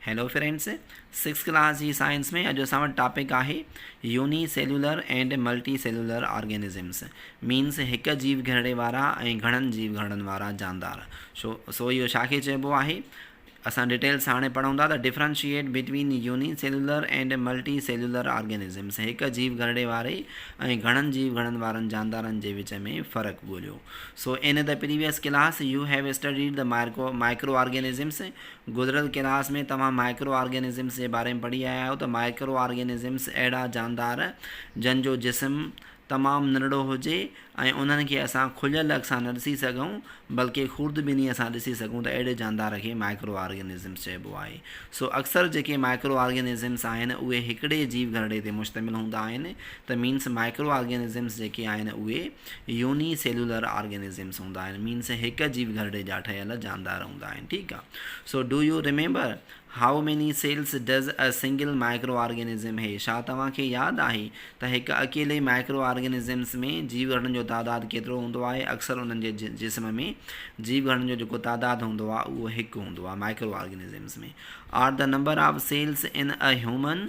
Hello friends six class جي science ۾ اڄ اسان وٽ ٽاپڪ آهي unicellular and multicellular organisms means هڪ جيو گهرڙي وارا ۽ گهڻن جيو گهرڙن وارا جاندار شو سو اهو ڇا کي چئبو آهي اسان ڊيٽيلس هاڻي پڙهون ٿا ته differentiate between unicellular and multicellular organisms هڪ جيو گهرڙي واري ۽ گهڻن جيو گهرڙن وارن جاندارن جي وچ ۾ فرق ڳوليو so in the previous class you have studied the مارڪو مائڪرو آرگينزمس گذريل ڪلاس ۾ توهان مائڪرو آرگينزمس جي باري ۾ پڙهي آيا آهيو ته مائڪرو آرگينزمس اهڙا جاندار جن جو جسم تمام ننڍڙو هجي ۽ انهن کي اسان کليل اک سان نه ڏسي سگهون بلڪه خوردبينيء سان ڏسي سگهون ته اهڙي جاندار کي مائڪرو آرگينزمس چئبو آهي سو اڪثر جيڪي مائڪرو آرگينزمس آهن اهي هڪڙي جيو گهرڙي تي مشتمل هوندا آهن ته مينس مائڪرو آرگينزمس جيڪي آهن اهي يوني سيلولر آرگنزمس هوندا آهن مينس هڪ جيو گهرڙي جا ٺهيل جاندار هوندا آهن ٺيڪ آ so do you remember how many cells does a single microorganism هي ڇا توهان کي ياد آهي ته هڪ اڪيلي مائڪرو آرگنزمس ۾ جيو گهرڙن جو تعداد ڪيترو هوندو آهي اڪثر انهن جي جسم ۾ جيو گهرڙن جو جيڪو تعداد هوندو آهي اهو هڪ هوندو آهي micro organisms ۾ are the number of cells in a human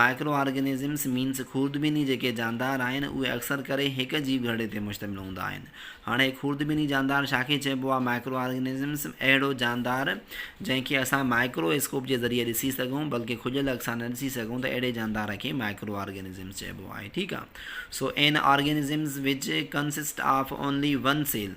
micro organisms means خوردبيني جيڪي جاندار آهن اهي اڪثر ڪري هڪ جيو گهرڙي تي مشتمل هوندا آهن. هاڻي خوردبيني جاندار ڇا کي چئبو آهي مائڪرو آرگنزمس اهڙو جاندار جنهن کي اسان مائڪرو اسڪوپ جي ذريعي ڏسي سگهون بلڪه کليل اک سان نه ڏسي سگهون ته اهڙي جاندار کي مائڪرو آرگنزمس چئبو آهي ٺيڪ آهي so in organisms which consist of only one cell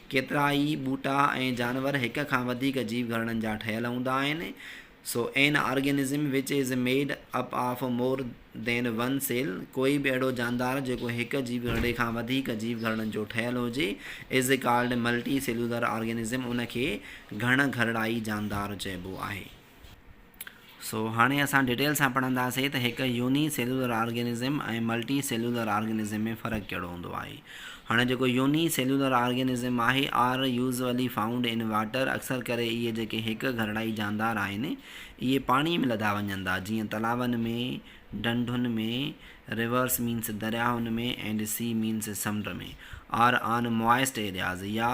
ڪيترائي ٻوٽا ۽ جانور هڪ کان وڌيڪ جيو گهرڙن جا ٺهيل هوندا آهن. So an organism which is made up of more than one cell, ڪوئي به اهڙو جاندار جيڪو هڪ جيو گهرڙي کان وڌيڪ جيو گهرڙن جو ٺهيل هجي is called multicellular organism ان کي گهڻ گهرڙائي جاندار چئبو آهي. سو هاڻي اسان ڊيٽيل سان پڙهندا سي ته هڪ unicellular organism ۽ multicellular organism ۾ فرق ڪهڙو هوندو آهي. هاڻي جيڪو يوني سيلولر آرگينزم آهي are usually found in water اڪثر ڪري اهي جيڪي هڪ گهرڙائي جاندار آهن اهي پاڻي ۾ لڌا وڃن ٿا جيئن تلاون ۾، ڍنڍن ۾، ريورس مينس درياهن ۾، ائنڊ سي مينس سمنڊ ۾، آر آن موائسٽ ايرياز يا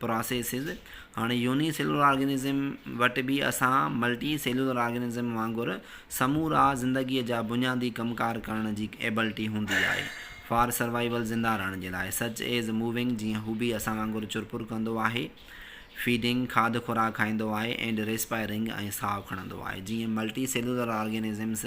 پراسيسز هاڻي يوني سيلولر آرگنزم وٽ به اسان ملٽي سيلولر آرگنزم وانگر سمورا زندگيء جا بنيادي ڪم ڪار ڪرڻ جي ايبلٽي هوندي آهي فار سروائيول زنده رهڻ جي لاء سچ ايز موونگ جيئن هو به اسان وانگر چرپر ڪندو آهي فيڊنگ کاڌ خوراڪ کائيندو آهي اينڊ ريسپائرنگ ۽ ساهه کڻندو آهي جيئن ملٽي سيلولر آرگنزمز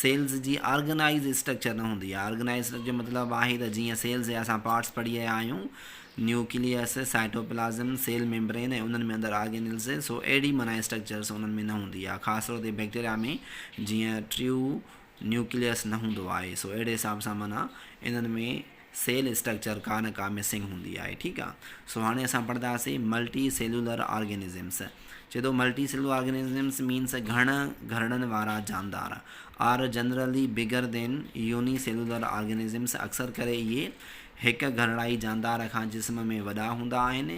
سيلز جي آرگنائيز اسٽرڪچر نه هوندي آهي، آرگنائيز اسٽرڪچر جو مطلب آهي ته جيئن سيلز جا اسان پارٽس پڙهي آيا آهيون، نيوڪليس، سائٽوپلازم، سيل ميمبرين ۽ انهن ۾ اندر آرگينيلز، سو اهڙي معنيٰ اسٽرڪچرس انهن ۾ نه هوندي آهي، خاص طور تي بيڪٽيريا ۾ جيئن ٽريو نيوڪليس نه هوندو آهي، سو اهڙي حساب سان معنيٰ انهن ۾. سيل اسٽرڪچر ڪا نه ڪا مسنگ هوندي آهي ٺيڪ آ سو هاڻي اسان پڙهنداسين ملٽي سيلولر آرگينزمس چي ٿو ملٽي سيلولر آرگينزمس مينس گهڻ گهرڙن وارا جاندار are generally bigger than unicellular organisms اڪثر ڪري اهي هڪ گهرڙائي جاندار کان جسم ۾ وڏا هوندا آهن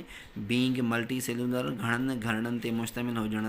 بينگ ملٽي سيلولر گهڻن گهرڙن تي مشتمل هجڻ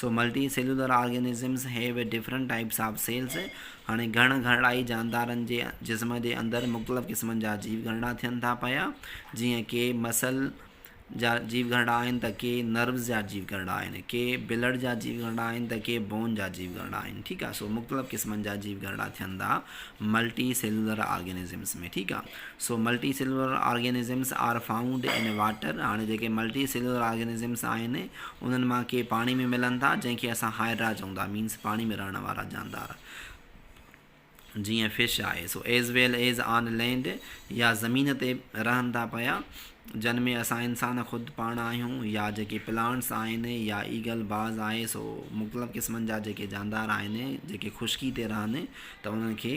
so multicellular organisms have a different types of cells هاڻي گهڻ گهرڙائي جاندارن جي جسم جي اندر مختلف قسمن جا جيو گهرڙا ٿين ٿا پيا جيئن ڪي مسل جا جيو گهرڙا آهن ته ڪي نروز جا جيو گهرڙا آهن ڪي بلڊ جا جيو گهرڙا آهن ته ڪي بون جا جيو گهرڙا آهن ٺيڪ آهي سو مختلف قسمن جا جيو گهرڙا ٿين ٿا ملٽي سيلولر آرگنزمز ۾ ٺيڪ آهي so multicellular organisms are found in water, هاڻي جيڪي ملٽي سيلولر آرگينزمز آهن انهن مان ڪي پاڻي ۾ ملن ٿا جنهن کي اسان هائڊرا چئون ٿا مينس پاڻي ۾ رهڻ وارا جاندار جيئن فش آهي سو as well as on land يا زمين تي رهن ٿا پيا جن ۾ اسان انسان خود پاڻ آهيون يا جيڪي پلانٽس آهن يا ايگل باز آهي سو مختلف قسمن جا جيڪي جاندار آهن جيڪي خشڪي تي رهن ته انهن کي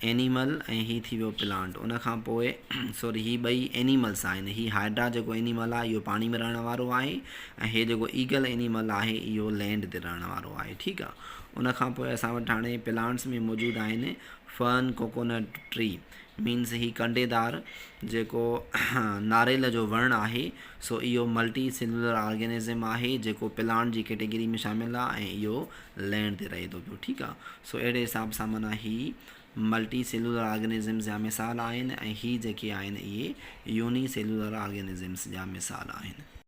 اينيمل ۽ هي ٿي ويو پلانٽ ان کان پوء سوري هي ٻئي اينيملس آهن هي هائڊرا جيڪو اينيمل آهي اهو پاڻي ۾ رهڻ وارو آهي ۽ هي جيڪو ايگل اينيمل آهي اهو لينڊ تي رهڻ وارو آهي ٺيڪ آهي ان کان پوء اسان وٽ هاڻي پلانٽس ۾ موجود آهن فرن ڪوڪونٽ ٽري مينس هي ڪنڊيدار جيڪو ناريل جو وڻ آهي سو اهو ملٽي سيلولر آرگينزم آهي جيڪو پلانٽ جي ڪيٽيگري ۾ شامل آهي ۽ اهو ليڻ تي رهي ٿو پيو ٺيڪ آ سو اهڙي حساب سان معنيٰ هي ملٽي سيلولر آرگنزمز جا مثال آهن ۽ هي جيڪي آهن اهي يوني سيلولر آرگنزمز جا مثال آهن.